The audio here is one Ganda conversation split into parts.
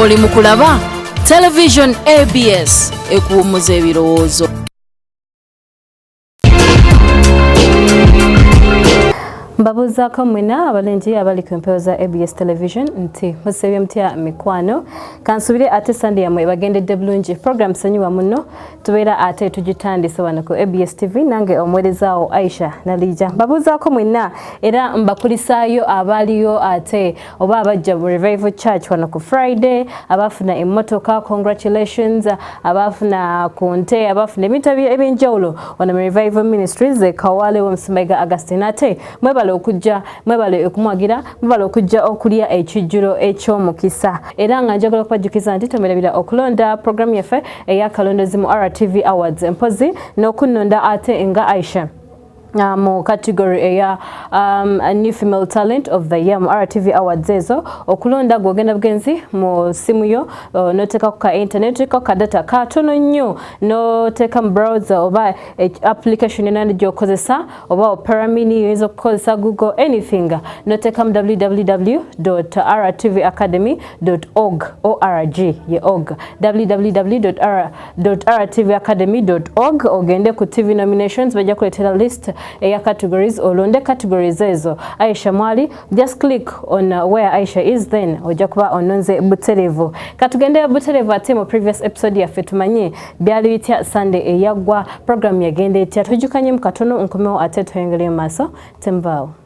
oli mu kulaba television abs ekuwummuza ebirowoozo mbabuuzaako mwena abalungi abali ku empewo za abs television nti musebye mutya mikwano kansubire ate sande yamwe bagendedde bulungi program sanyiwa muno tubeera ate tugitandise wano ku abs tv nange omuwerezaawo aisha nalija mbabuuzaako mwenna era mbakulisaayo abaaliyo ate oba abajja mu revival church wano ku friday abaafuna emmotoka congratulations abaafuna ku nte abaafuna ebintu ebyenjawulo wano mu revival ministries kawale womusimbayiga augustin ate mwebale okujja mwebale okumwagira mwebale okujja okulya ekijjulo eky'omukisa era nga njagala okubajjukiza nti tomerabira okulonda programu yaffe eyakalondezi mu rtv awards empozi n'okunnonda ate nga aisha Uh, mu category eya um, new female talent of the year mu rtv awards ezo okulonda gwogenda bugenzi mu simu yo uh, noteka ku ka internet oteka ku ka data katono nnyo noteka mu browser oba e, application yona gyokozesa oba operamini yoyinza okukozesa google anything noteka mu www rtv academy org org ye org www.rtvacademy.org ogende ku tv nominations bajja kuleetera list eya categories olonde categories ezo aisha mwali just click on uh, where aisha is then ojja kuba ononze buterevu katugende buterevu ate mu previous episode yaffe tumanye byali bitya sunday eyaggwa program yagenda etya tujukanyemu katono nkomewo ate tweyongere mu maaso temubaawo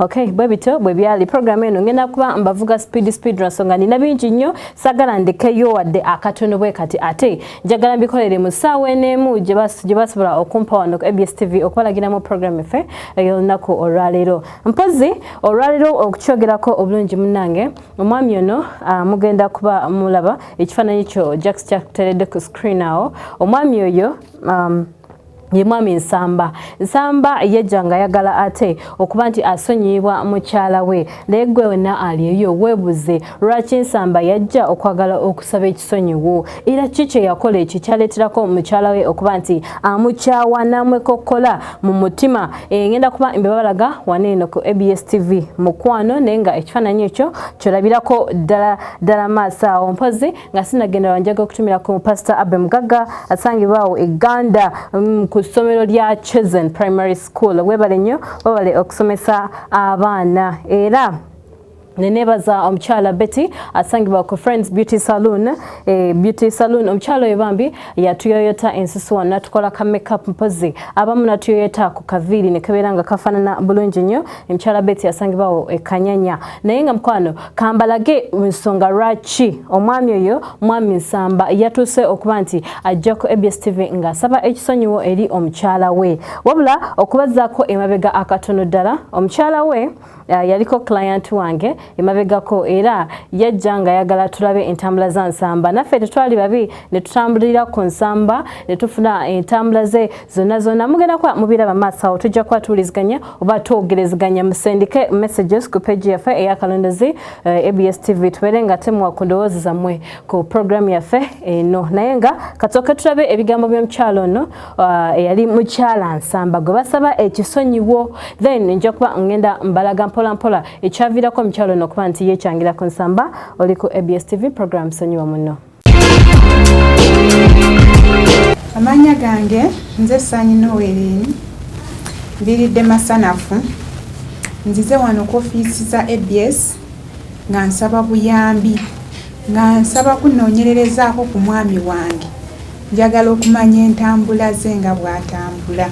Okay, bwe bityo bwe byali program eno ngenda kuba mbavuga speed speed nsonga nina bingi nnyo sagala ndekeyo wadde akatono bwe kati ate njagala mbikolere mu ssaawa eno emu gye basobola okumpa wano ku abs tv okubalagiramu programu effe ey'olunaku olwaleero mpozi olwaleero okukyogerako obulungi munange omwami ono ah, mugenda kuba mulaba ekifaananyi kyo jacks kyakuteredde ku screen awo omwami oyo um, ye mwami nsamba nsamba yajja nga ayagala ate okuba nti asonyiyibwa mukyala we naye gwe wena aliyo webuze lwaki nsamba yajja okwagala okusaba ekisonyiwo era ki kyeyakola ekyo kyaleeterako mukyala we okuba nti amukyawa namwekokkola mu mutima engenda eh, kuba mbebabalaga waneeno ku abs tv mukwano naye nga ekifaananyi ekyo kyolabirako ddala ddala maaso awo mpozi nga sinagenda wanjaga okutumira ku pastor abe mugaga asangibwa awo eganda mm, ku ssomero lya chosen primary school webale nnyo webale okusomesa abaana era nenebaza omukyala betty asangibwa ku friends beauty saloon eh, beauty saloon omukyala oyo bambi yatuyoyota ensusu wano natukola ka makeup mpozi abamu natuyoyota ku kaviiri nekebeera nga kafanana bulungi nnyo omukyala betty asangibwawo ekanyanya naye nga mukwano kambalage nsonga lwaki omwami oyo mwami nsamba yatuuse okuba nti ajja ku abs tv ng'asaba ekisonyiwo eri omukyala we wabula okubazaako emabega akatono ddala omukyala we uh, yaliko client wange emabegako era yajja nga yagala tulabe entambula za nsamba naffe tetwali babi ne tutambulira ku nsamba ne tufuna entambula ze zonna zonna mugenda kuba mubiraba maaso awo tujja kuba tuwuliziganya oba twogerezeganya musendike messages ku page yaffe eyakalondezi uh, eh, abs tv tubeere nga temwa ku ndowoozi zammwe ku programu yaffe eno naye nga katooke tulabe ebigambo by'omukyalo ono uh, eyali mukyala nsamba gwe basaba ekisonyiwo then nja kuba ngenda mbalaga mpola mpola ekyaviirako omukyalo ono okuba nti yekyangira ku nsamba oli ku abs tv programu sonyiwa muno Amanya gange nze Sanyi Noelin mbiridde masanafu nzize wano ku ofiisi za abs nga nsaba buyambi nga nsaba kunoonyererezaako ku mwami wange njagala okumanya entambula ze nga bw'atambula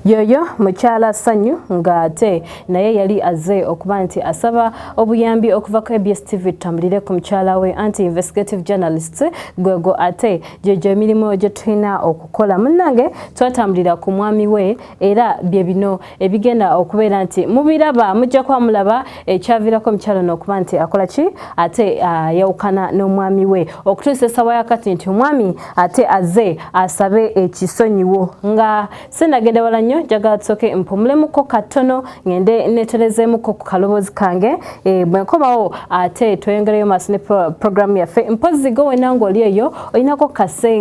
yoyo mukyala sanyu ng'ate naye yali azze okuba nti asaba obuyambi okuva ku abs tv tutambulire ku mukyala we anti investigative journalist gwegwo ate gyegyo emirimu gye tulina okukola munnange twatambulira ku mwami we era bye bino ebigenda okubeera nti mubiraba mujja kuba mulaba ekyaviirako omukyala ono okuba nti akola ki ate ayawukana n'omwami we okutuusa esawa yakati nti omwami ate azze asabe ekisonyiwo nga sinagenda wala nnyo njagala tusooke mpumulemuko katono ngende neterezeemuko ku kaloboozi kange e, bwe nkomawo ate tweyongereyo maaso ne pro, programu yaffe mpozzi go wena ng'oli eyo olinako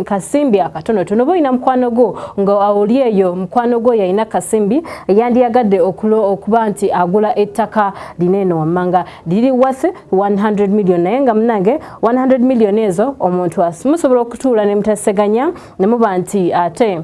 kasimbi akatonotono oba olina mukwano gwo nga oli eyo mukwano gwo yalina kasimbi yandiyagadde okuba nti agula ettaka lina eno wammanga liri worth 100 million naye nga munange 100 million ezo omuntu musobola okutuula ne mutaseganya ne muba nti ate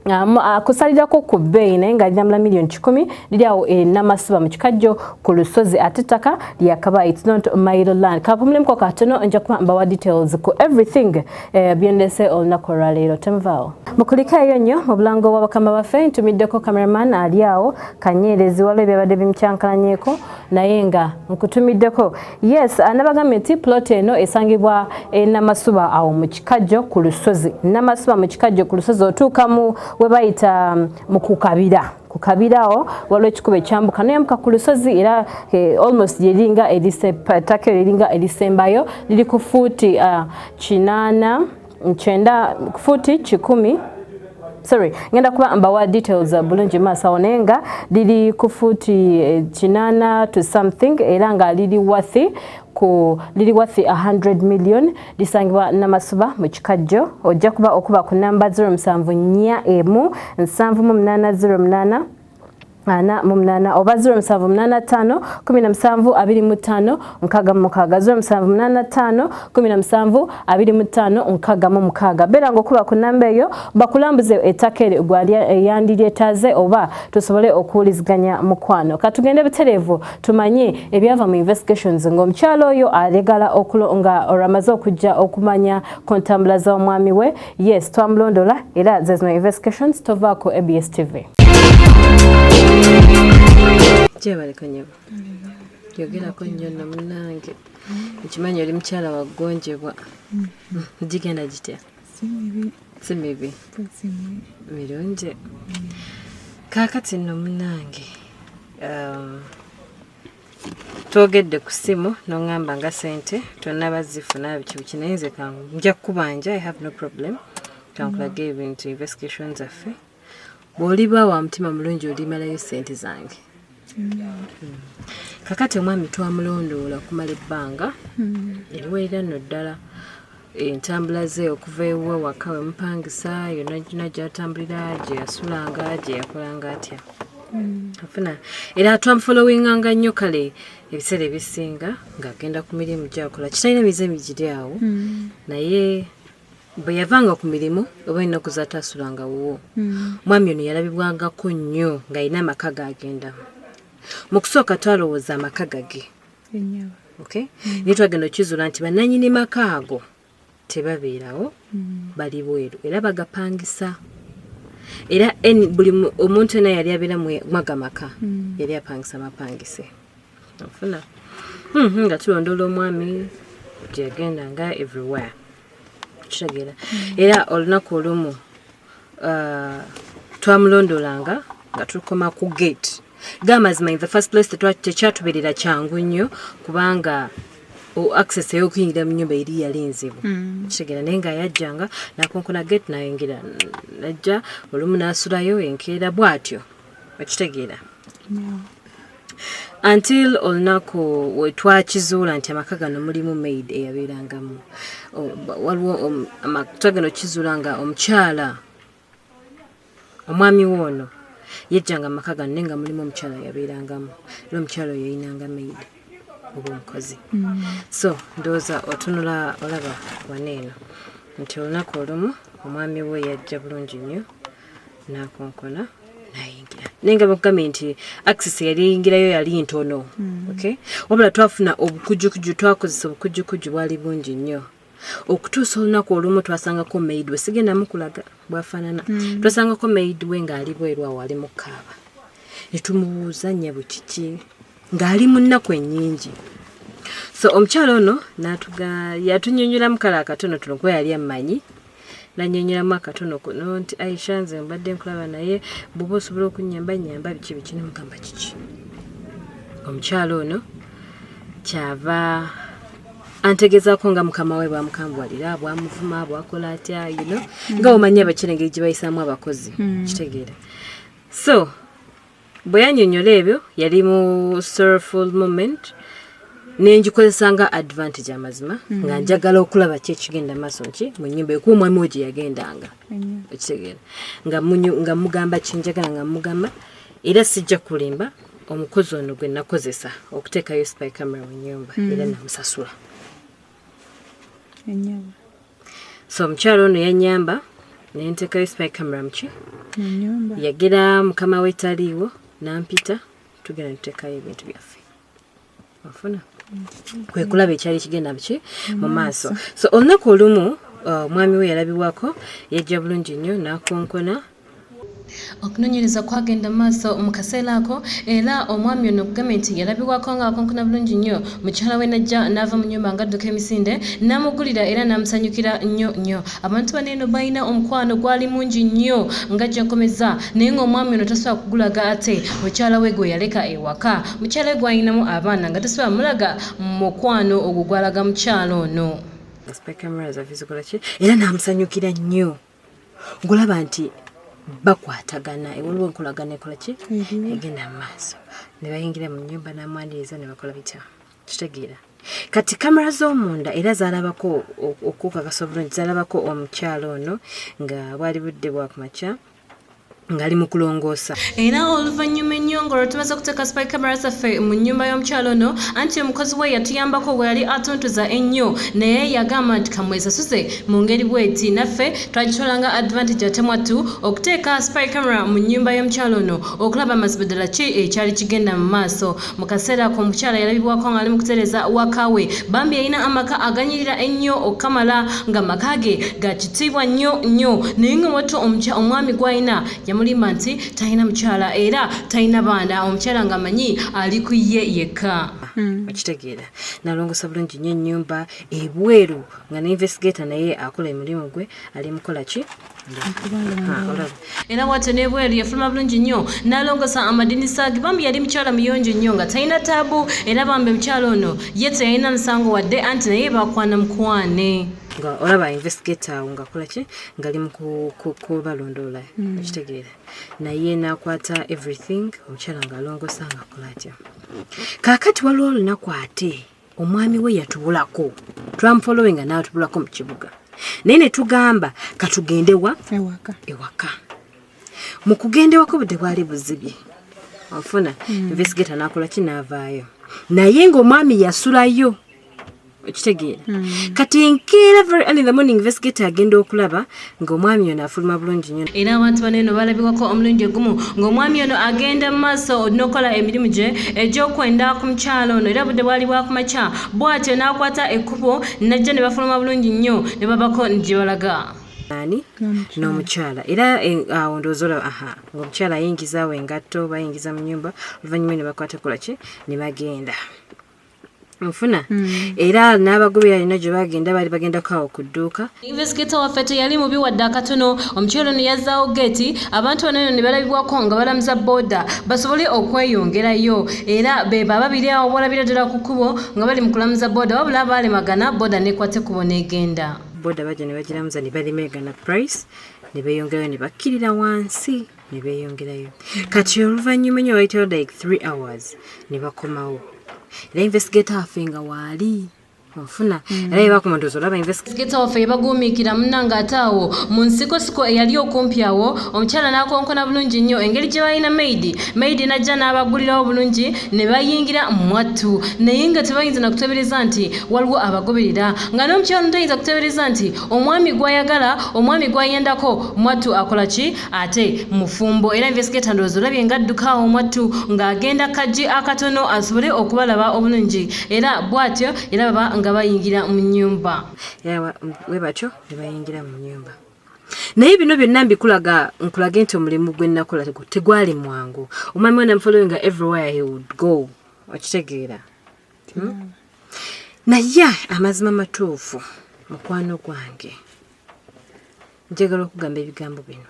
akusalirako ku bbeeyi naye nga linamula million kikumi liri awo e namasiba mu kikajjo ku lusozi ate ettaka lyakaba its not mile land kapumulemuko katono nja kuba mbawa details ku everything eh, byendese olunaku olwaleero temuvaawo mukulika eyo nnyo mu bulango bwa bakama baffe ntumiddeko cameraman ali awo kanyeerezi waliwo ebyabadde bimukyankalanyeko naye nga nkutumiddeko yes anabagambye nti plot eno esangibwa e namasuba awo mu kikajjo ku lusozi namasuba mu kikajjo ku lusozi otuuka mu we bayita mm, mu kukabira ku kabirawo waliwo ekikuba ekyambuka noyambuka ku lusozi era eh, almost yeringa eritake eriringa erisembayo liri ku fuuti ah, kinaana uh, nkyenda futi kikumi sorry ngenda kuba mbawa details uh, bulungi maaso awo naye nga liri ku futi eh, kinana to something era nga liri wathi ku liri wathi 100 million lisangibwa namasuba mu kikajjo ojja kuba okuba ku namba 07 nya emu 7 mu 8 08 ana mu munana oba 07852525 beera ngaokuba ku namba eyo bakulambuze ettaka eryo gwali eyandiryetaaze oba tusobole okuwuliziganya mukwano katugende butereevu tumanye ebyava mu investigations ng'omukyalo oyo alegala nga olwamaze okujja okumanya ku ntambula z'omwami we Yes, twamulondola era zezino investigations tova ku ABS TV. Kyebaleka nyabo. Yogerako nnyo na munnange. Nkimanyi oli mukyala wa ggonjebwa. Gigenda gitya? Si mibi. Si mibi. Mirungi. Kaakati nno munnange. Um, twogedde ku ssimu noŋŋamba nga sente tonnaba zifuna biki biki naye nze ka nja kukubanja i have no problem kankulage mm-hmm. ebintu investigation zaffe bw'oliba wa mutima mulungi olimalayo sente zange mm-hmm. kakati omwami twamulondoola okumala ebbanga mm-hmm. eriweerera nno ddala entambula ze okuva ewuwe waka we mupangisa yonna gina gyatambulira gye yasulanga gye yakolanga atya hmm. afuna era twamufolowinganga nnyo kale ebiseera ebisinga ng'agenda ku mirimu gyakola kitalina mize migiri awo hmm. naye bwe yavanga ku mirimu oba ennaku zatasulanga wuwo hmm. mwami ono yalabibwangako nnyo ng'alina amaka gaagendamu mu kusooka twalowooza amaka gage okay? mm. naye twagenda okizula nti bananyini maka ago tebabeerawo mm. bali bweru era bagapangisa era buli omuntu ena yali abeera mwaga maka mm. yali apangisa mapangise ofuna mm -hmm, nga tulondoola omwami gyagenda nga everywhere kitegeera mm. era olunaku olumu uh, twamulondolanga nga tukoma ku gate gamazima in the first place tekyatuberera kyangu nnyo kubanga access eyokuyingira mu nyumba eri yali nzibu mm. kitegera naye nga yajjanga nakonkona gate nayingira najja olumu nasulayo enkeera bwatyo okitegeera until olunaku wetwakizuula nti amaka gano mulimu maid eyabeerangamu waliwo um, twagenda okizuula nga omukyala omwami we ono yejjanga amaka gano naye nga mulimu omukyala yabeerangamu era omukyala oyo yayinanga maid oba omukozi mm. so ndowooza otunula olaba waneeno nti olunaku olumu omwami we yajja bulungi nnyo nakonkona nayingira naye nga bakugambye nti access yali eyingirayo yali ntono mm. okay wabula twafuna obukujukujju twakozesa obukujukujju bwali bungi nnyo okutuusa olunaku olumu twasangako maid we sigenda mukulaga bwafaanana mm. twasangako maid we ng'ali bweru awo ali mukaaba netumubuuza nyabo kiki ng'ali mu nnaku ennyingi so omukyalo ono natuga yatunyonyola mukala akatono tuno kuba yali ammanyi nanyonyolamu akatono kuno nti aisha nze mbadde nkulaba naye buba osobola okunyamba nyamba biki biki nemugamba kiki omukyalo ono kyava antegezaako nga mukama we bwamukambuwalira bwamuvuma bwakola atya you know nga omanya abakyala engeri gye bayisaamu abakozi hmm. kitegeera so bwe yanyonyola ebyo yali mu sorrowful moment nengikozesa nga advantage amazima mm. nga njagala okulaba ki ekigenda maaso nki mu nyumba ekuwa omwami we gye yagendanga ekitegeera nga mugamba kyenjagala nga mugamba era sijja kulimba omukozi ono gwe nakozesa okuteekayo spy camera mu nyumba mm. era namusasula so omukyalo ono yanyamba nentekayo spy camera muki yagera mukama we taliiwo nampita tugenda nitekayo ebintu byaffe ofuna mm-hmm. kwekulaba ekyali kigenda biki mu maaso so olunaku olumu uh, omwami we yalabibwako yajja bulungi nnyo nakonkona okunonyereza kwagenda maaso mu kaseera ako era omwami ono okugambye nti yalabibwako nga akonkona bulungi nnyo mukyala we najja n'ava mu nyumba nga adduka emisinde n'amugulira era n'amusanyukira nnyo nnyo abantu bano eno balina omukwano gwali mungi nnyo nga gyakomeza naye ng'omwami ono tasobola kugulaga ate mukyala we gwe yaleka ewaka mukyala we gwalinamu abaana nga tasobola mulaga mukwano ogwo gwalaga mukyala ono era n'amusanyukira nnyo ngolaba nti bakwatagana ewaliwo enkolagana ekola ki mhm. egenda mu maaso ne bayingira mu nyumba n'amwaniriza ne bakola bitya kitegeera kati kamera z'omunda era zalabako okukakasa obulungi zalabako omukyalo ono nga bwali budde bwakumakya ngali mu kulongoosa era oluvannyuma ennyo ng'olwo tumaze okuteeka spy camera zaffe mu nnyumba y'omukyalo ono anti omukozi we yatuyambako bwe yali atuntuza ennyo naye yagamba nti kamwesasuze mu ngeri bweti naffe twagitola nga advantage ate mwattu okuteeka spy camera mu nnyumba y'omukyalo ono okulaba amazima ddala ki ekyali kigenda mu maaso mu kaseera ako omukyala yalabibwako ng'ali mu kutereza waka we bambi yalina amaka aganyirira ennyo okukamala nga maka ge ga kitiibwa nnyo nnyo naye nga watto omwami gw'alina yamulimba nti talina mukyala era talina baana omukyala ng'amanyi ali ku ye yekka hmm. okitegeera nalongosa bulungi nnyo ennyumba ebweru nga ne investigator naye akola emirimu gwe ali mukola ki era bwatyo nebweru yafuluma bulungi nnyo nalongosa amadinisa age bambi yali mukyala muyonjo nnyo nga talina taabu era bambi mukyala ono ye teyalina musango wadde anti naye bakwana mukwane nga olaba investigator awo ngakola ki ngali mukubalondoola hmm. okitegeera naye nakwata everything omukyala ngaalongosa ngakola atya kaakati waliwo olunaku ate omwami we yatubulako twamufolowinga n'atubulako mu kibuga naye ne tugamba katugende wa ewaka ewaka mu kugenda ewaka obudde bwali buzibye ofuna hmm. investigata nakola ki naavaayo naye ng'omwami yasulayo okitegeera hmm. kati enkeera very early the morning investigata agenda okulaba ng'omwami ono afuluma bulungi nnyo era abantu bano eno balabikako omulundi ogumu ng'omwami ono agenda mu maaso n'okukola emirimu gye egy'okwenda ku mukyalo ono era budde bwali bwakumakya bw'atyo n'akwata ekkubo najja ne bafuluma bulungi nnyo ne babako gye balaga ani n'omukyala era eh, awo ndowooza olaba aha ng'omukyala ayingiza awo engatto bayingiza mu nyumba oluvannyuma ne bakwata kola ki ne bagenda nfuna mm. era n'abagobera alina gye bagenda baali bagenda kaawo ku dduuka invesigeta waffe teyali mubi wadde akatono omukyolo no yazzaawo geeti abantu bano eno ne balabibwako nga balamuza booda basobole okweyongerayo era beba babiri awo bolabira ddala ku kkubo nga bali mu kulamuza booda wabula abaalemagana booda nekwate kubo n'egenda booda bajja ne bagiramuza ne balemegana price ne beeyongerayo ne bakkirira wansi ne beeyongerayo kati oluvannyuma enyo bayitayo like three hours ne bakomawo era investigator afe nga waali nfuna mm. era yebakuma ndozi olaba investigeta waffe yebaguumiikira muna ng'ate awo mu nsikosiko eyali okumpi awo omukyala n'akonkona bulungi nnyo engeri gye balina maidi maidi n'ajja n'abagulirawo bulungi ne bayingira mwattu naye nga tebayinza nakutebereza nti waliwo abagoberera nga n'omukyala notayinza kutebereza nti omwami gw'ayagala omwami gw'ayendako mwattu akola ki ate mufumbo era investigator ndowooza olabye nga adduka omwattu ng'agenda kajji akatono asobole okubalaba obulungi era bw'atyo era baba nga bayingira mu nnyumba we batyo ne bayingira mu nnyumba naye bino byonna mbikulaga nkulage nti omulimu gwe nnakola tegwali mwangu omwami wena mfollowinga everywhere he would go okitegeera hmm? naye amazima matuufu mukwano gwange njagala okugamba ebigambo bino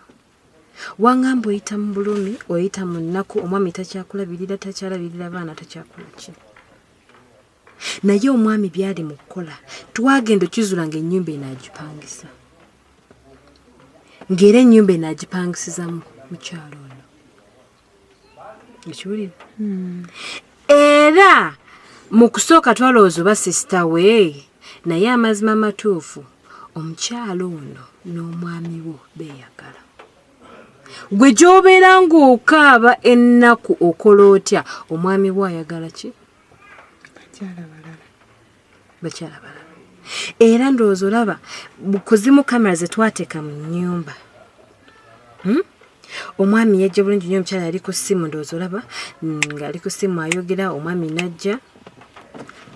wangamba oyita mu bulumi oyita mu nnaku omwami takyakulabirira takyalabirira baana takyakula ki naye omwami byali mu kukola twagenda okizula nga ennyumba eno agipangisa ng'era ennyumba eno agipangisizamu mukyalo ekiwulira hmm. era mu kusooka twalowooza oba sisita we naye amazima amatuufu omukyalo ono n'omwami wo beeyagala gwe gy'obeera ng'okaaba ennaku okola otya omwami wo ayagala ki bakyala balala era ndowooza olaba kuzimu kamera zetwateeka mu nyumba hmm? omwami yajja bulungi nyo omukyala yali ku ssimu ndowooza olaba mm, ngaali ku ssimu ayogera omwami najja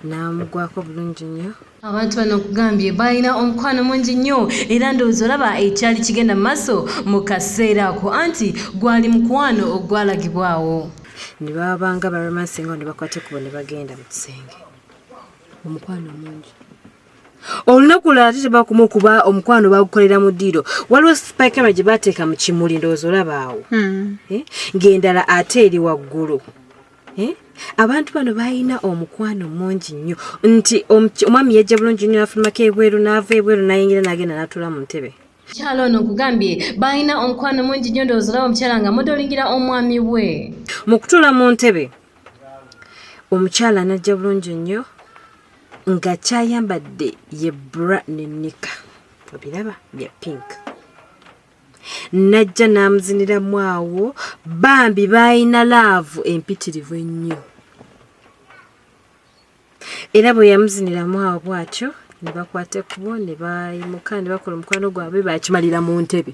n'amugwako bulungi nnyo abantu bano okugambye balina omukwano mungi nnyo era ndowooza olaba ekyali kigenda mu maaso mu kaseera ako anti gwali mukwano ogwalagibwawo ne babanga baromansinga ne bakwate kubo ne bagenda mu kisenge omukwano mungi olunaku lwate tebakuma okuba omukwano bagukolera mu ddiiro waliwo spikera gye bateeka mu kimuli ndowooza olaba awo hmm. eh? ng'endala ate eri waggulu eh? abantu bano balina omukwano mungi nnyo nti omwami yajja bulungi nnyo nafulumako ebweru n'ava ebweru nayingira n'agenda n'atuula mu ntebe kyalo ono nkugambye balina omukwano mungi nnyo ndowooza olaba omukyala nga mudolingira omwami we mu kutuula mu ntebe omukyala anajja bulungi nnyo nga kyayambadde ye bra nenika obiraba bya pink najja n'amuziniramu awo bambi baalina laavu empitirivu ennyo era bwe yamuziniramu awo bw'atyo ne bakwata ekkubo ne bayimuka ne bakola omukwano gwabwe baakimalira mu ntebe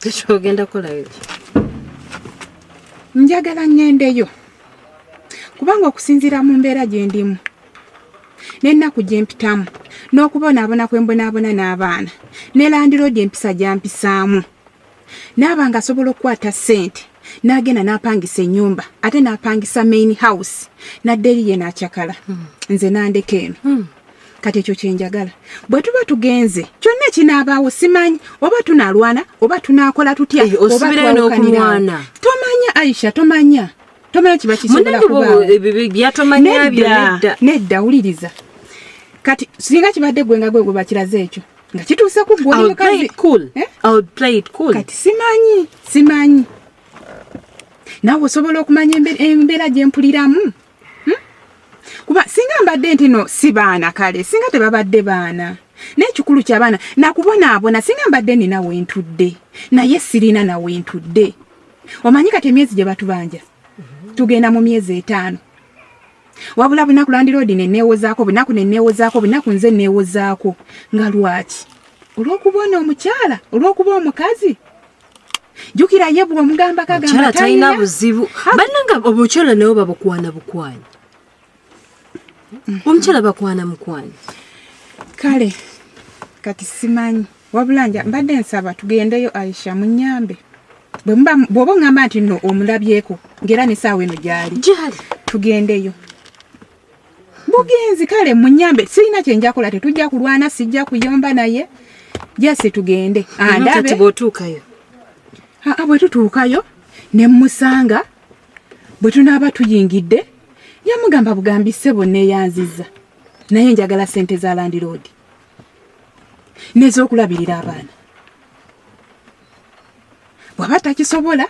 tekyogenda kolayo njagala ŋŋendeyo kubanga okusinziira mu mbeera gye ndimu n'ennaku gye mpitamu n'okubonaabona kwe mbonaabona n'abaana ne landiroodi empisa gyampisaamu naaba nga asobola okukwata ssente n'agenda n'apangisa ennyumba ate n'apangisa main house nadde eri ye n'acakala hmm. nze nandeka eno hmm. kati ekyo kyenjagala bwe tuba tugenze kyonna ekinaabaawo simanyi oba tunalwana oba tunakola tutya eh, obaobaokanirana tomanya aisha tomanya tomanya kiba kisobolakubnedda wuliriza kati singa kibadde gwe nga gwe gwe bakiraze ekyo nga kituuse ku gwkati eh? simanyi simanyi nawe osobola okumanya embeera gyempuliramu hmm? kuba singa mbadde ntino si baana kale singa tebabadde baana n'ekikulu kyabaana nakubonaabona singa mbadde nina wentudde naye sirina nawentudde omanyi kati emyezi gye batubanja tugenda mu myezi etaano wabula bunaku landiroodi neneewozaako bunaku neneewozaako bunaku nze neewozaako nga lwaki olw'okuba ono omukyala olw'okuba omukazi jukira ye bwomugamba kagamba talina buzibu bananga obukyala nabo babukwana bukwana omukyala bakwana mukwana kale kati simanyi wabula nja mbadde nsaba tugendeyo aisha munyambe bwoba oŋamba nti no omulabyeko ngaera nesaawa eno gyali tugendeyo bugenzi kale munyambe sirina kyenjakola tetujja kulwana sijja kuyomba naye jasi tugende andabebwetutuukayo ah, ah, ne musanga bwe tunaaba tuyingidde yamugamba bugambi ssebo neeyanziza naye njagala sente za landiroodi nez'okulabirira abaana bwaba takisobola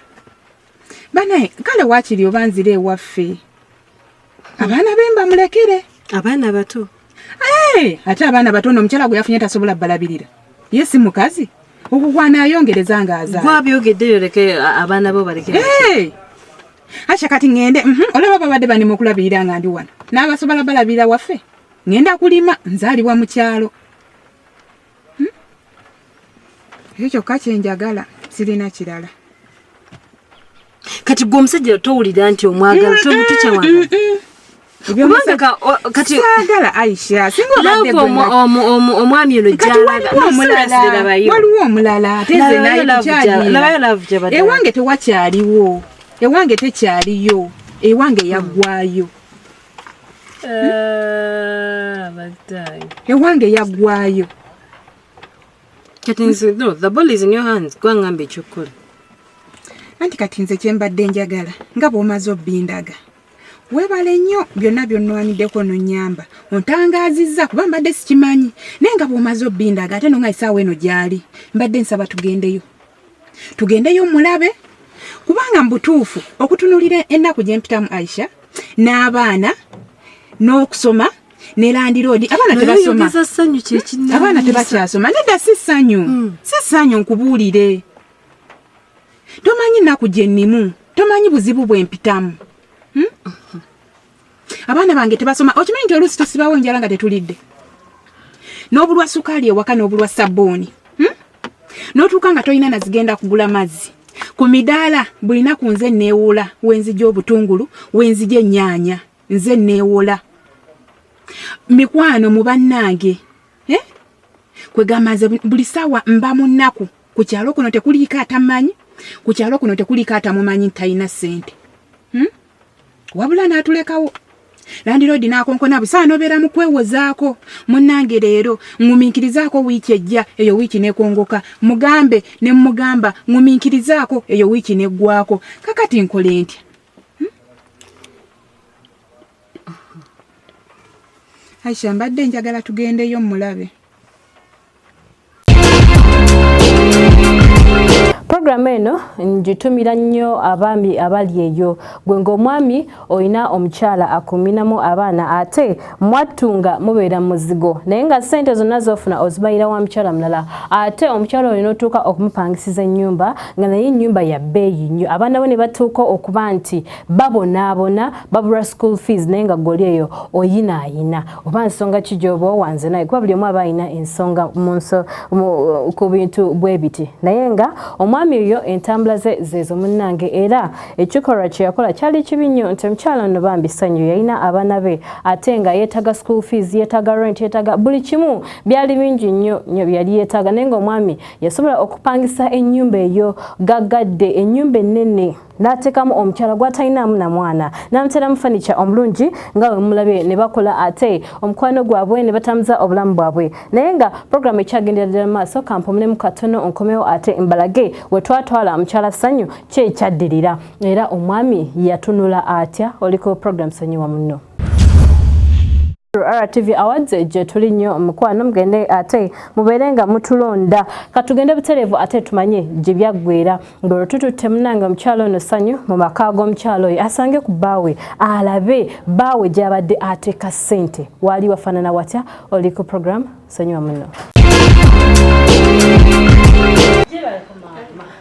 banaye kale wakiri oba nzire ewaffe abaana be mbamulekere abaana bato eh, ate abaana bato no omukyala gwe yafunye tasobola balabirira ye si mukazi okugwana ayongereza nga azawabyogeddeyo leke abaana bo baleke eh, akya kati ŋende mhm, olaba babadde banima okulabirira nga ndi wano n'abasobola balabirira waffe ŋenda kulima nzaalibwa mu kyalo hmm? ekyo kyokka kyenjagala sirina kirala kati gwe omusajja towulira nti omwagala tomutukyawagala aisha omwami ono waliwo omulala ewange tewakyaliwo ewange tekyaliyo ewange yaggwayo Ah, ewange yagwayo anti kati nze kyembadde njagala nga bwomaze obindaga webale nnyo byonna byonnwaniddeko nonyamba ontangaazizza kuba mbadde sikimanyi naye nga bwomaze obindaga ate nonga esaawa eno gyali mbadde nsaba tugendeyo tugendeyo mulabe kubanga mubutuufu okutunulira ennaku gyempitamu aisha n'abaana n'okusoma ne landiroodi abaana tebasoma abaana tebakyasoma nedda si ssanyu hmm. si ssanyu nkubuulire tomanyi nnaku gyennimu tomanyi buzibu bwempitamu hmm? abaana bange tebasoma okimanyi nti oluusi tusibawo enjala nga tetulidde n'obulwa sukaali ewaka n'obulwa sabbuuni hmm? n'otuuka nga tolina nazigenda kugula mazzi ku midaala bulina ku nze neewola wenzija obutungulu wenzija ennyaanya nze neewola mikwano mu bannange eh? kwegamba nze buli saawa mba mu nnaku ku kyalo kuno tekuliiko atamanyi ku kyalo kuno tekuliiko atamumanyi nti talina ssente hmm? wabula n'atulekawo landiroodi n'akonkona busa anobeera mu kwewozaako munnange leero ŋŋumiikirizaako wiiki ejja eyo wiiki nekongoka mugambe ne mmugamba ŋŋumiikirizaako eyo wiiki neggwako kakati nkole ntya hmm? aisha mbadde njagala tugendeyo mmulabe Programu eno ngitumira nnyo abaami abali eyo gwe ng'omwami olina omukyala akuminamu abaana ate mwattu nga mubeera muzigo naye nga ssente zonna zofuna ozibayira wa mukyala mulala ate omukyala olina otuuka okumupangisiza ennyumba nga naye ennyumba ya bbeeyi nnyo abaana bo ne batuuka okuba nti babonaabona babulwa school fees naye nga goli eyo oyinaayina oba nsonga ki gyoba owanze naye kuba buli omu aba alina ensonga munso ku bintu bwe biti naye nga omwami oyo entambula ze zeezo munnange era ekikolwa kye yakola kyali kibi nnyo nti omukyala ono bambi ssanyu yalina abaana be ate nga yeetaga school fees yeetaga rent yeetaga buli kimu byali bingi nnyo nnyo byeyali yeetaga naye nga omwami yasobola okupangisa ennyumba eyo gaggadde ennyumba ennene n'ateekamu omukyala gw'atalinaamu na mwana n'amuteeramu fanica omulungi nga we mumulabye ne bakola ate omukwano gwabwe ne batambuza obulamu bwabwe naye nga puroguramu ekyagendera ddala mu maaso kampomulemu katono nkomewo ate mbalage we twatwala mukyala ssanyu kyekyaddirira era omwami yatunula atya oliko puroguramu sonyiwa munno RTV Awards gye tuli nnyo mukwano mugende ate mubeere nga mutulonda katugende butereevu ate tumanye gye byaggweera ng'olwo tututte munange omukyalo ono ssanyu mu maka g'omukyalo oyo asange ku bbaawe alabe bbaawe gy'abadde ateeka ssente waali wafaanana watya oli ku programu sonyiwa muno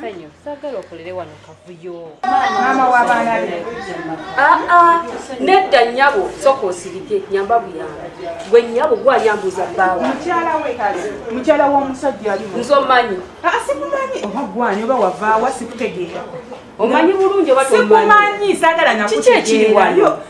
Sanyu, sagala okolere wano kavuyo. Mama wa bana be. Ah ah, nedda nyabo soko osirike nyamba buyamba. Gwe nyabo gwa yambuza bawa. Mchala we kazi. Mchala wa musajja ali. Nzo manyi. Ah sikumanyi. Oba gwa nyoba wava wasikutegera. Omanyi bulungi watu omanyi. Sikumanyi sagala nakutegera. Chiche chiri wano.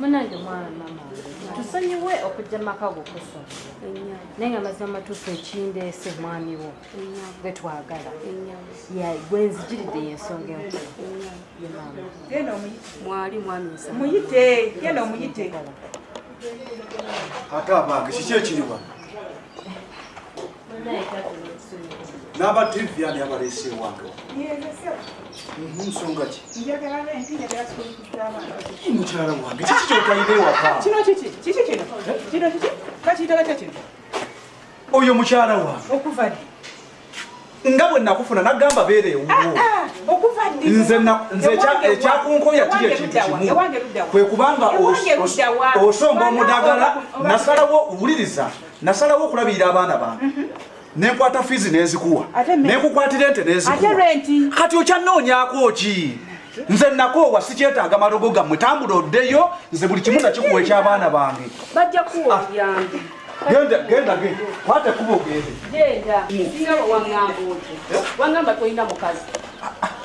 munange mwana mama tusonyiwe okujja mumaka go kusoma naye nga mazima matuufu ekindeese mwami wo gwe twagala gwe nzijiridde yensonga enkulu mwali mwamimuyite genda omuyite ate abange kiki ekiriwa n'aba tv ani abaleese ewange nsonga ki mukyala wange kiki kyotalina ewaka oyo mukyala wange okuva ddi nga bwe nakufuna nagamba beera ewuwo ah, ah, nze ekyakunkoya kiri ekintu kimu kwe kubanga osomba omudagala nasalawo wuliriza nasalawo okulabirira abaana bange mhm. nenkwata fiizi nenzikuwa nenkukwatira ente nenzikuwa kati okyanoonyako ki nze nakoowa sikyetaaga malogo gammwe tambula oddeyo nze buli kimu nakikuwa ekyabaana bange genda genda ge kwate kuba ogende genda singa wangamba oti wangamba tolina mukazi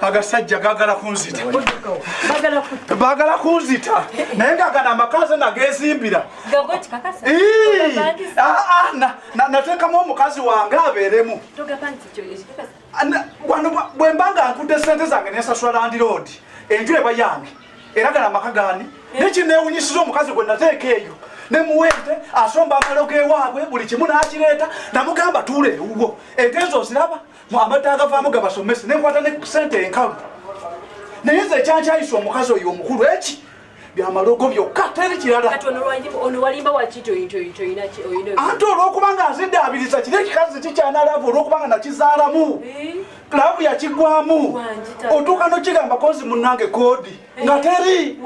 agasajja gagala kunzita bagala kunzita naye nga gana amakazi nagezimbira natekamu omukazi wange abeeremu bwemba nga nkudde sente zange nensasula landiroodi enju eba yange era gana amaka gani eh. nekinewunyisiza omukazi gwe nateeka eyo nemuwente asomba amalo gewaabwe buli kimu nakireeta namugamba tuula ewuwo entezo oziraba amata agavaamu gabasomese nenkwata ne sente enkalu naye nze ekyankyayisa omukazi oyo omukulu eki byamalogo byokka teri kirala ante olwokubanga azidaabiriza kiri ekikazi kikyana laavu olwokubanga nakizaalamu eh? laavu yakigwamu otuuka nokigamba kozi munange kodi nga teri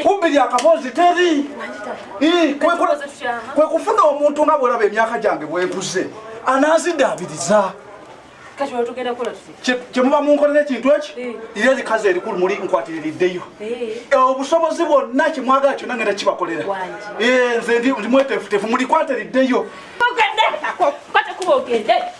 kumbi lyakabozi teri kwe kufuna omuntu nga bwolaba emyaka gyange bwenkuze anazidabiriza kyemuba munkolera ekintu eki ira likazi erikulu muli nkwatiririddeyo obusobozi bwonna kyemwagala kyonna ngenda kibakolera nze ndi mwetefutefu mulikwatiriddeyo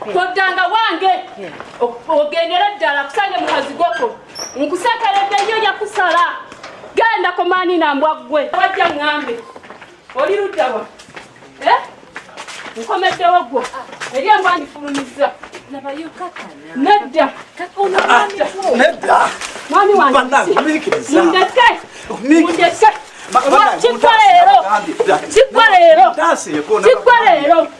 koddanga wange ogendere ddala kusange mukazi goko nkusekeredde nnyo yakusala genda komaani nambwa ggwe wajja ŋŋambe oli luddawa eh? nkomeddewo gwo eri embwa ndifulumizza nedda mwami wangemundeke mundeke kiggwa leero kiggwa leero kiggwa leero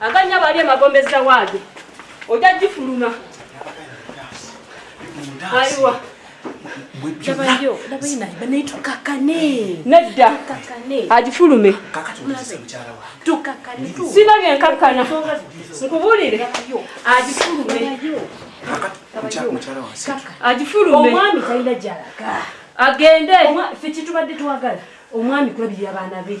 aganya bali emagombe zawaadi oja gifuluma ayiwa nedda agifulume sina byenkakkana nkubulire agifulume agifulume agende ffe kyetubadde twagala omwami kulabirira abaana be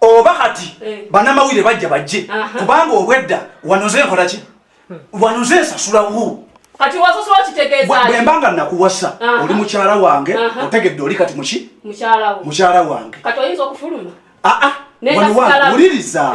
oba kati eh. banamawulire bajja bajje kubanga obwedda wanoze enkola ki hmm. wanoze ensasula wu kati wasasula kitegeeza bwe mbanga nakuwasa oli mukyala wange otegedde oli kati muki mukyala wange kati oyinza okufuluma aa ah, ah. wuliriza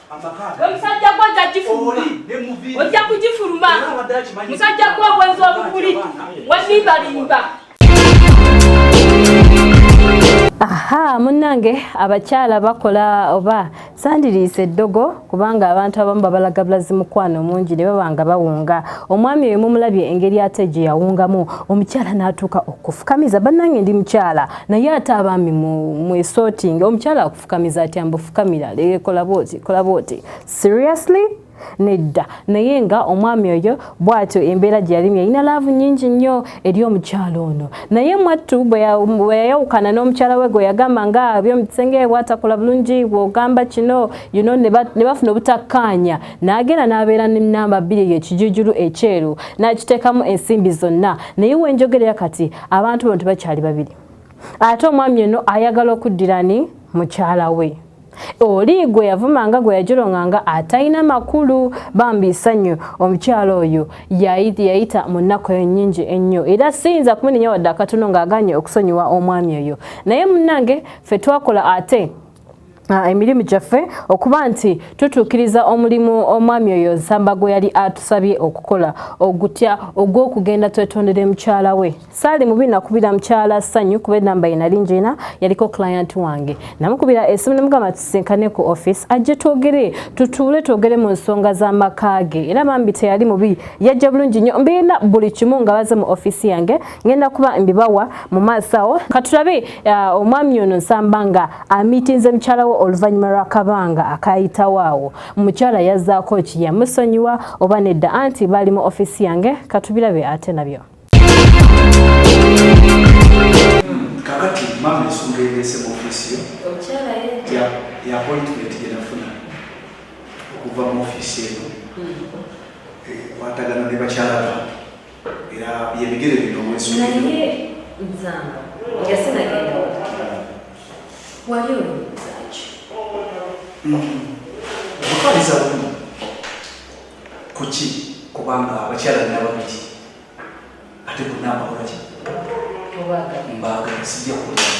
omusajja gwe ojja gifuluma ojja kugifuluma musajja gwe obwenzi obukuli wazimbalimba aha munnange abakyala bakola oba sandiriisa eddogo kubanga abantu abamu babalaga bulazi mukwano omungi ne baba nga bawunga omwami oyo mumulabye engeri ate gye yawungamu omukyala n'atuuka okufukamiza bannange ndi mukyala naye ate abaami mwesootinga omukyala fukamiza atya mbu fukamira lege kola bwoti kola bwoti seriously nedda naye nga omwami oyo bwatyo embeera gye yalimu yalina laavu nyingi nnyo eri omukyalo ono naye mwattu bwe yayawukana n'omukyala we gwe yagamba nga byomukisenge bwatakola bulungi bwogamba kino you know, ne bafuna obutakkaanya n'agenda n'abeera ne namba bbiri eyo ekijujulu ekyeru n'akiteekamu ensimbi zonna naye wenjogerera kati abantu bano tebakyali babiri ate omwami ono ayagala okuddira ni mukyala we oli gwe yavumanga gwe yajolonganga atalina makulu bambi isanyu omukyala oyo yayita mu nnaku eyo nyingi ennyo era siyinza kumunenya wadde akatono ng'aganye okusonyiwa omwami oyo naye munnange fe twakola ate Ah, emirimu gyaffe okuba nti tutuukiriza omulimu omwami oyo nsamba gwe yali atusabye okukola ogutya ogw'okugenda twetondere mukyala we saali mubi nakubira mukyala ssanyu kuba enamba ye nali njina yaliko client wange namukubira esimu nemugamba tusinkane ku office ajje twogere tutuule twogere mu nsonga z'amaka ge era bambi teyali mubi yajja bulungi nnyo mbiina buli kimu nga baze mu offiisi yange ngenda kuba mbibawa mu maaso awo katulabe uh, omwami ono nsamba nga amitinze mukyala we oluvannyuma lw'akabanga akayitawo awo mukyala yazzaako ki yamusonyiwa oba nedda anti baali mu ofisi yange katubirabe ate nabyo kakati maama ensonga ereese mu ofisi yo ya appointment gye nafuna okuva mu ofisi eno hmm. eh, kwatagana ne bakyala bange era byebigere bino mwezi naye nzamba nga sinagenda wali olowoozaaki okutwaliza mm. bumu kuki kubanga abakyala nina babiri ate bonna abakolaki mbaaga sijja kulaa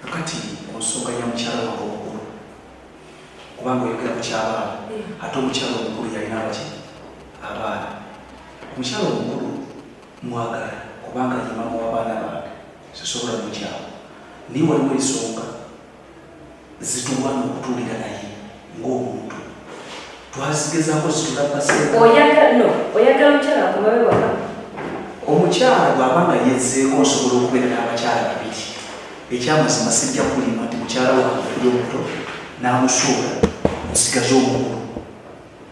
Kakati ku nsonga ya mukyala wange omukulu, kubanga oyogera ku kyabaana eh. ate omukyala omukulu yalina abaki abaana. Omukyala omukulu mwagala kubanga ye maama w'abaana bange, sisobola mukyawa, naye waliwo ensonga zitulwana okutuulira naye. ng'omuntu twazigezako zitulabaseoyagano oyagala omukyala akomabe waka omukyala bw'aba nga yezzeeko nsobola okubeera n'abakyala babiri ekyamazima sijja kulima nti mukyala wange ali omuto n'amusuula nsigaza omukulu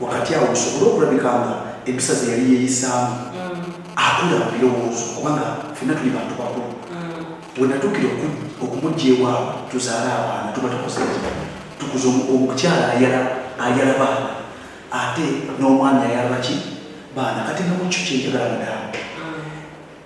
wakati awo osobole okulabika nga empisa ze yali yeeyisaamu mm. akula mu birowoozo kubanga fenna tuli bantu bakulu mm. wenatuukira okumujja ewaabwe tuzaala abaana tuba tukoze tukuza omukyala ayala ayala baana ate n'omwami ayala baki baana kati nga mukyo kyenjagala mudaamu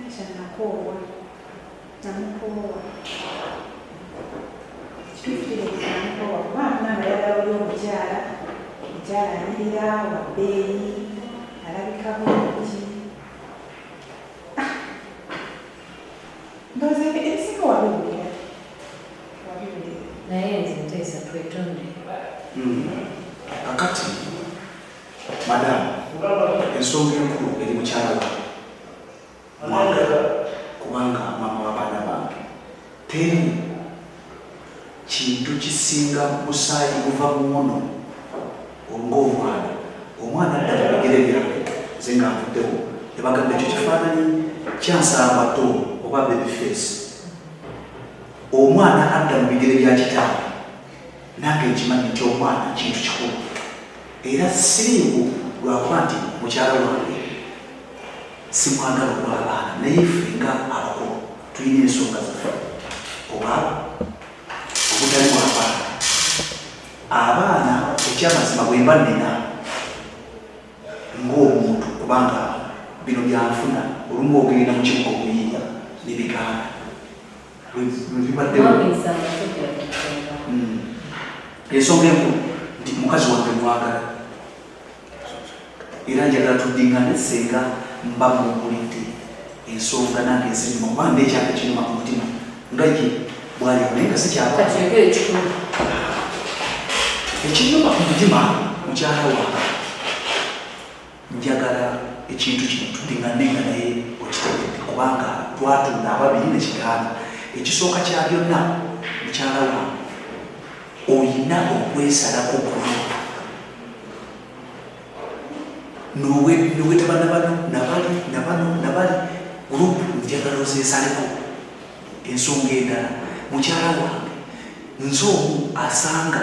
Aisha nakoowa namukoowa ekituufu kiri nti namukoowa kuba muna nga yagala oli omukyala mukyala anyirira wabbeeyi alabika bulungi Ah, ndowooza ebyo ebisinga wabiwulira wabiwulira naye nze nteesa twetonde kakati Madam, ensonga enkulu eri mukyala wange kubanga maama w'abaana bange teri kintu kisinga musaayi guva muwono ng'omwana omwana adda mu bigere byange nze nga nvuddewo ne bagamba ekyo kifaananyi kyansambato oba baby face omwana adda mu bigere bya kitaawe Nange nkimanyi nti omwana kintu kikulu era siriiwo lwakuba nti mukyala wange simwagala okuba abaana naye ffe nga abakulu tulina ensonga zaffe oba obutali bwabaana abaana ekyamazima bwemba nina ngaomuntu kubanga bino byanfuna olumu ogenda mukibuga okuyinda nebigaana hmm. ensonga enkulu nti mukazi wange mwagala era njagala tudingane senga mba mumpulidde ensonga nange ezirimu kuba nekyaka kiruma ku mutima nga ye bwali naye nga sikyaba ekiruma ku mutima mukyala wange Njagala ekintu kino tudingane nga naye okitegedde kubanga twatunda ababiri ne kigaana. Ekisooka kya byonna mukyala wange olina okwesalako kuno nowetaba nabano nabali nabano nabali gurupu njagala ozesaleko ensonga endala mukyala wange nze omu asanga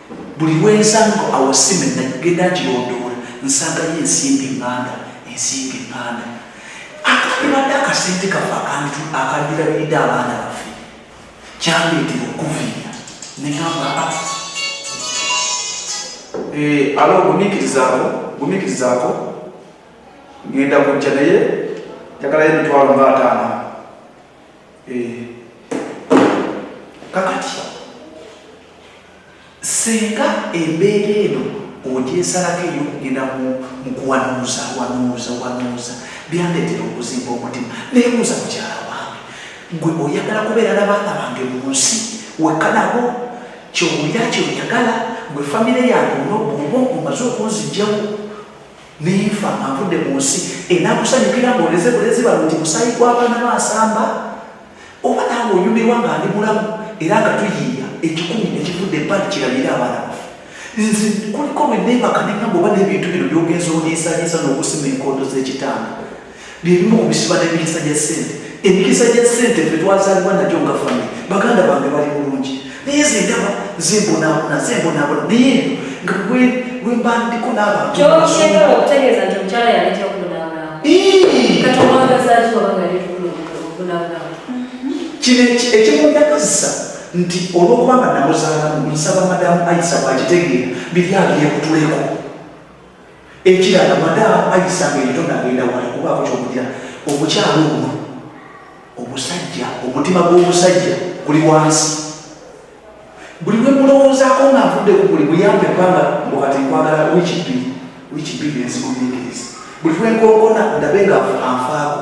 buli lwenzanga awasime nagenda ngirondoola nsangayo ensimbi nganda ensimbi nganda akandibadde akasente kafe akandirabiridde abaana baffe kyandeetera okuviira negamba ah. eh, alo gumikirizaako gumikirizaako ngenda kujja naye njagalayo emitwalo nga ataano kakati senga embeera eno ogyesalako eyokugenda mukuwanuuza wanuuza wanuuza byandetera okuzimba omutima nebuuza mukyala wange gwe oyagala kubeera nabaana bange mu nsi wekanabo kyowulira kyeoyagala gwe famire yange onoba omaze okunzijjawo Nenfa nga nvudde mu nsi enakusanyukira ng'oleze bulezi bano nti musaayi gw'abaana ba Nsamba? Oba naawe onyumirwa nga ndi mulamu era nga tuyiiya ekikumi ne kivudde ebbali kirabire abaana baffe? Nze kuliko lwe neebaka ne ŋŋamba oba n'ebintu bino by'ogenze ondiisaliisa n'okusima enkondo z'ekitanda bye bimu ku bisiba n'emikisa gya ssente emikisa gya ssente fe twazaalibwa nagyo nga fami baganda bange bali bulungi naye zendaba zembonabona zembonabona naye nga wembandiko n'abantuoyagala okutegeeza nti omukyala yaletea okubonabonaaaaaaa kino ekimundagazisa nti olwokubanga namuzaalamu nsaba madamu aisa bwagitegeera biri abyekutuleko ekirala madamu ayisanga erito nagenda wali kubaako kyokugira omukyalo omu omusajja omutima gw'omusajja guli wansi buli lwe mulowoozaako nga avudde ku buli muyambe kubanga mukati nkwagala wiiki bbiri wiiki bbiri enzigumikiriza buli lwe nkonkona ndabe nga anfaako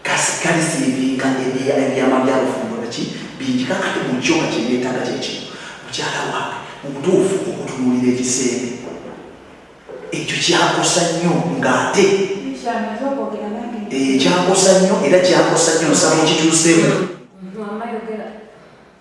Kasi kali silivinga ebiya ebyama bya bufumbo naki bingi kakati mu kyoka kye byetaaga kye kino mukyala wange mu butuufu okutunulira ekiseera ekyo kyakosa nnyo ng'ate eh, kyakosa nnyo era kyakosa nnyo nsaba okituuseemu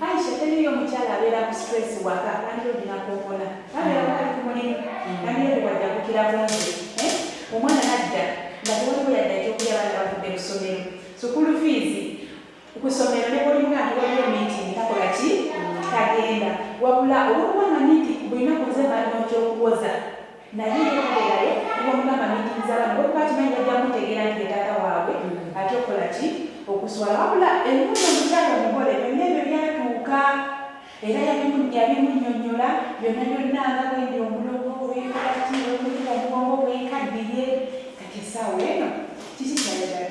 Aisha teri yo mukyala abeera ku stress waka kandi olina kokola abeera wali ku mulimu kandi ebo wajjakukira bungi eh? omwana nadda nga tewaliwo yadda ekyokulya baana bavudde mu ssomero sukulu fiizi ku ssomero ne bwolinga nti waliwo meeting takola ki tagenda wabula olwokuba nga niti bulinaku nze balina okyokuwoza naye yekoleraye nibamugamba nigiriza abaana bokuba kimanyi bajja kutegeera nti yetaata waabwe mm. ate okola ki okuswala wabula emuno omukyalo omugole byonna ebyo byatuuka era yabimunyonyola byonna byonna nga bwendi omulogo bwekolaki bwekuli omugongo bwekaddiye kati esaawa eno kiki kyayagala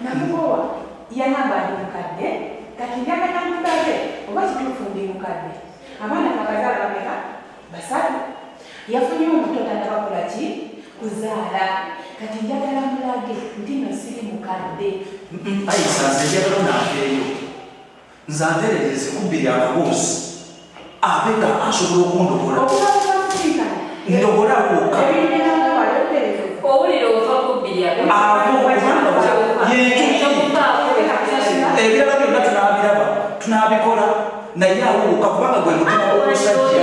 namukowa yanamba ndi mukadde kati njagala namukadde oba kituufu ndi mukadde abaana bakazala bameka basatu yafunye omuto tatabakola ki kuzaala kati njagala mulage nti nosiri mukadde ayisanze njagala nakeeyo nze anterera ezikubbi lya kaboozi ate nga asobola okundokola ndokola woka ebirala byonna tunabiraba tunabikola naye awuuka kubanga gwe mutima omusajja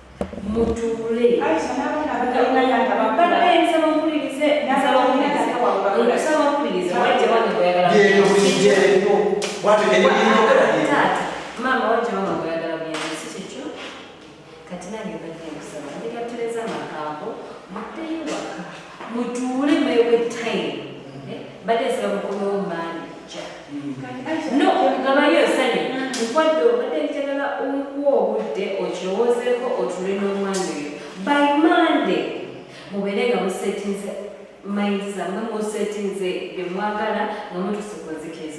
mutuule maama wajja wama gweyagala buyambi si kyekyo kati nange mbadde nkusaba ndigatereza amagambo muddeyo waka mutuule mwewe time eh, badde nsaba mukomewo maani ja mm. no ngabayo nsanye nkwadde obadde njagala okuwa obudde okirowoozeeko otuule n'omwana oyo by monday mubeere nga musetinze mayinzi zamwe musetinze bye mwagala nga mutusikozikiriza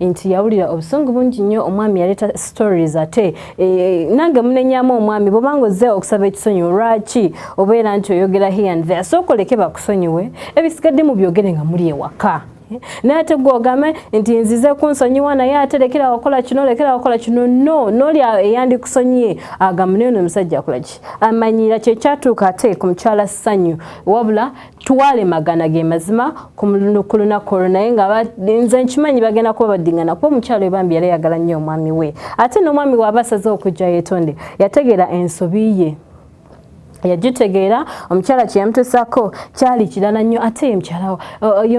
nti yawulira obusungu bungi nnyo omwami yaleeta stories ate e, nange munenyamu omwami bwobanga ozze okusaba ekisonyiwo lwaki obeera nti oyogera here and there sookoleke bakusonyiwe ebisigadde mu byogere nga muli ewaka naye ate gwogame nti nzize kunsonyiwa naye ate lekera wakola kino lekera wakola kino no noli eyandikusonyiye agamune ono omusajja akolaki amanyira kyekyatuuka ate ku mukyala sanyu wabula tuwale magana ge mazima ku lunaku olwo naye nga nze nkimanyi bagenda kuba badingana kuba omukyalo ebambi yali ayagala nnyo omwami we ate n'omwami waaba asaze okujja yetonde yategeera ensobi ye yagitegeera omukyala kyeyamutusako kyali kirala nnyo ate ye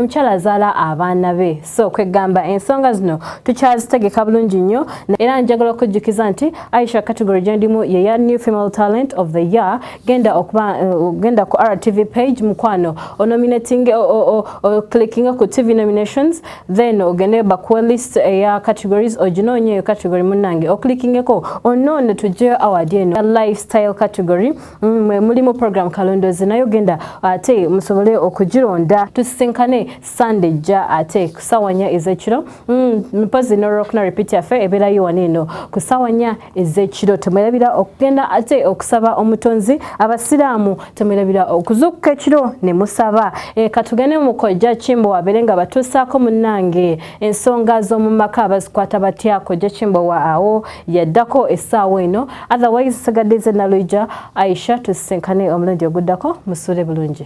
mukyala azaala abaana be so kwegamba ensonga zino tukyazitegeka bulungi nnyo era njagala okujjukiza nti aisha category gyendimu yeya new female talent of the year genda okuba uh, genda ku rtv page mukwano onominating oclickinga ku tv nominations then ogende bakuwe list eya categories oginoonye eyo category munange oclickingeko onoone tujjeyo award eno lifestyle category mm, mulimu program kalondozi naye ogenda ate musobole okugironda tusisinkane Sunday ja ate ku ssaawa nnya ez'ekiro mm, mpozi n'olwokuna repeat yaffe ebeerayo wano eno ku ssaawa nnya ez'ekiro temwerabira okugenda ate okusaba omutonzi abasiraamu temwerabira okuzuukuka ekiro ne musaba e, katugende mu kojja kimbo wabeere nga batuusaako munnange ensonga z'omu maka abazikwata batya kojja kimbo wa awo yaddako essaawa eno otherwise sigadde ze nalwija aisha tusisinkane omulundi oguddako musuule bulungi